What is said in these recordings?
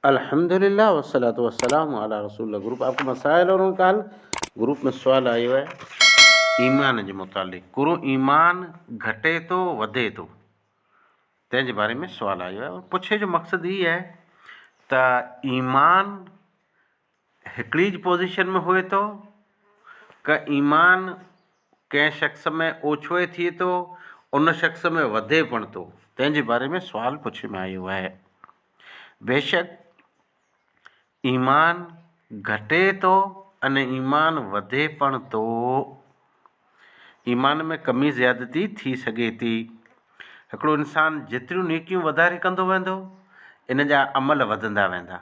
الحمد لله والصلوة والسلام علي رسول الله گروپ آپ ڪو مسائل اور ان کا حل گروپ ۾ سوال آيو آهي ايمان جي متعلق گرو ايمان گهٽي ٿو وڌي ٿو تنهن جي باري ۾ سوال آيو آهي پڇي جو مقصد هي آهي ته ايمان هڪڙيج پوزيشن ۾ هئي ٿو ڪه ايمان ڪنهن شخص ۾ اوڇوئي ٿئي ٿو ان شخص ۾ وڌي پڻ ٿو تنهن جي باري ۾ سوال پڇي ۾ آيو آهي بيشڪ ايمان گهٽي ٿو ان ايمان وڌي پڻ ٿو ايمان ۾ ڪمي زيادتي ٿي سگهي ٿي هڪڙو انسان جيتريون نيڪيون وڌاري ڪندو ويندو ان جا عمل وڌندا ويندا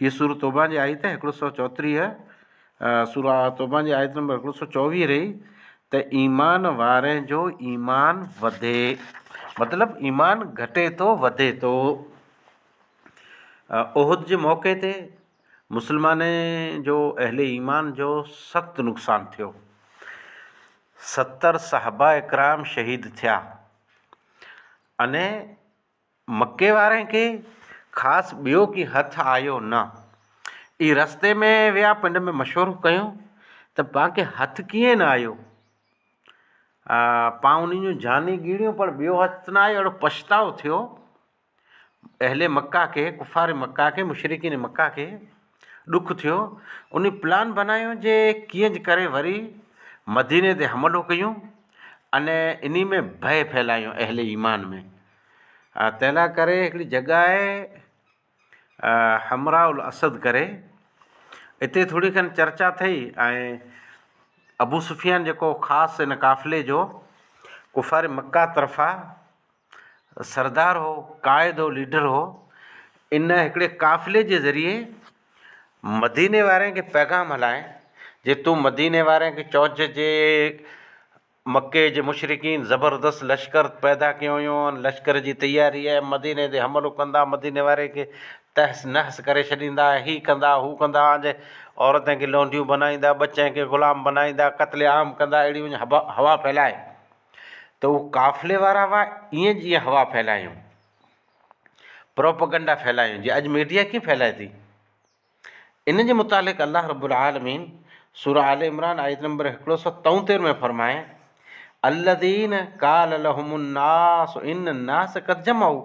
هيء سورة توبه جي آيت هڪڙو سؤ چوٽيهه سورة توبه جي آيت نمبر هڪڙو سؤ چوويهه رهي ته ايمان وارن جو ايمان وڌي مطلب ايمان گهٽي ٿو وڌي ٿو. احد جي موقعي تي مسلمانن جو اهل ايمان جو سخت نقصان ٿيو. ستر صحابه اڪرام شهيد ٿيا. انهيء مڪي وارن کي خاص ٻيو ڪي هٿ آيو نه. اي رستي ۾ ويا پنڊ ۾ مشورو ڪيو ته پان کي هٿ ڪيئن نه آيو؟ پان انهن جون جاني ڳيڙيون پر ٻيو هٿ نه آيو اهڙو پڇتاء ٿيو. اهل مڪه کي، ڪفار مڪه کي، مشرڪين مڪه کي، ڏک ٿيو، انهي پلان بنايو جي ڪيئن ڪري وري مديني تي حملو ڪيون ۽ انهي ۾ ڀئي ڦهلايون اهل ايمان ۾، تنهنلا ڪري هڪڙي جڳهه آهي حمراء الاسد ڪري اتي ٿوري کن چرچا ٿئي ۽ ابوسفيان جيڪو خاص ان قافلي جو ڪفار مڪه طرفان سردار هو، قائد هو، ليڊر هو. ان هڪڙي قافلي جي ذريعي مديني وارن کي پيغام هلائين جي تون مديني وارن کي چئج جي مڪي جي مشرڪين زبردست لشڪر پيدا ڪيو هيون ۽ لشڪر جي تياري آهي، مديني تي حملو ڪندا، مديني وارن کي تحس نحس ڪري ڇڏيندا، هي ڪندا، هو ڪندا، آنجي عورتن کي لونڊيون بنائيندا، ٻچن کي غلام بنائيندا، قتل عام ڪندا، اهڙي هوا ڦهلائي. ته هو قافلي وارا هئا ائين جيئن هوا ڦهلايون پروپيگنڊا ڦهلايون جي اڄ ميڊيا ڪيئن ڦهلائي ٿي ان جي متعلق الله رب العالمين سورة آل عمران آيت نمبر هڪڙو سو تئوتير ۾ فرمائي الذين قال لهم الناس ان الناس قد جمعوا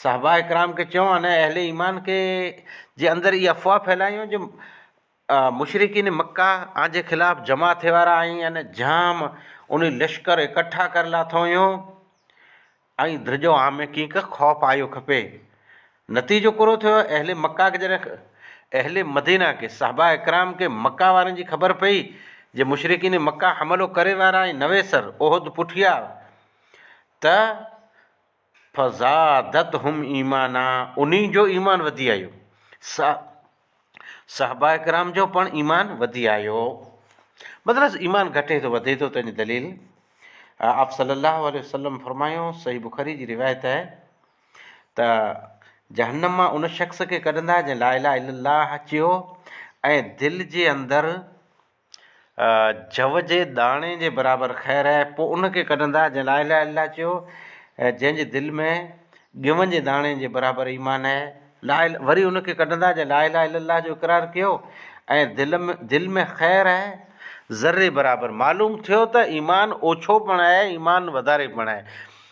صحابه کرام کي چيو ان اهل ايمان کي جي اندر هي افواهه ڦهلايون جو مشرڪين مڪه آنجي خلاف جمع ٿيوارا ۽ ان جام انهي لشڪر اڪٺا ڪر لاٿوهيون ۽ درجو عام ۾ ڪينڪ خوف آيو کپي نتيجو ڪورو ٿيو اهل مڪه کي جڏهن اهل مدينه کي صحابه اڪرام کي مڪه وارن جي خبر پئي جي مشرڪين مڪه حملو ڪري وارا ۽ نويسر احد پٺيا ته فزادتهم ايمانا انهي جو ايمان وڌي آيو. صا صحابه ڪرام جو پڻ ايمان وڌي آيو. مطلب ايمان گهٽي ٿو وڌي ٿو تنهنجي دليل آپ صلي الله عليه وسلم فرمايو صحيح بخاري جي روايت آهي ته جهنم مان ان شخص کي ڪڍندا جنهن لا اله الا الله چيو ۽ دل جي اندر جوء جي داڻي جي برابر خير آهي، پوء ان کي ڪڍندا جنهن لا اله الا الله چيو ۽ جنهن جي دل ۾ ڳون جي داڻي جي برابر ايمان آهي، لا اله، وري ان کي ڪڍندا جنهن لا اله الا الله جو اقرار ڪيو ۽ دل دل ۾ خير آهي، ذري برابر، معلوم ٿيو ته ايمان اوڇو پڻ آهي، ايمان وڌاري پڻ آهي،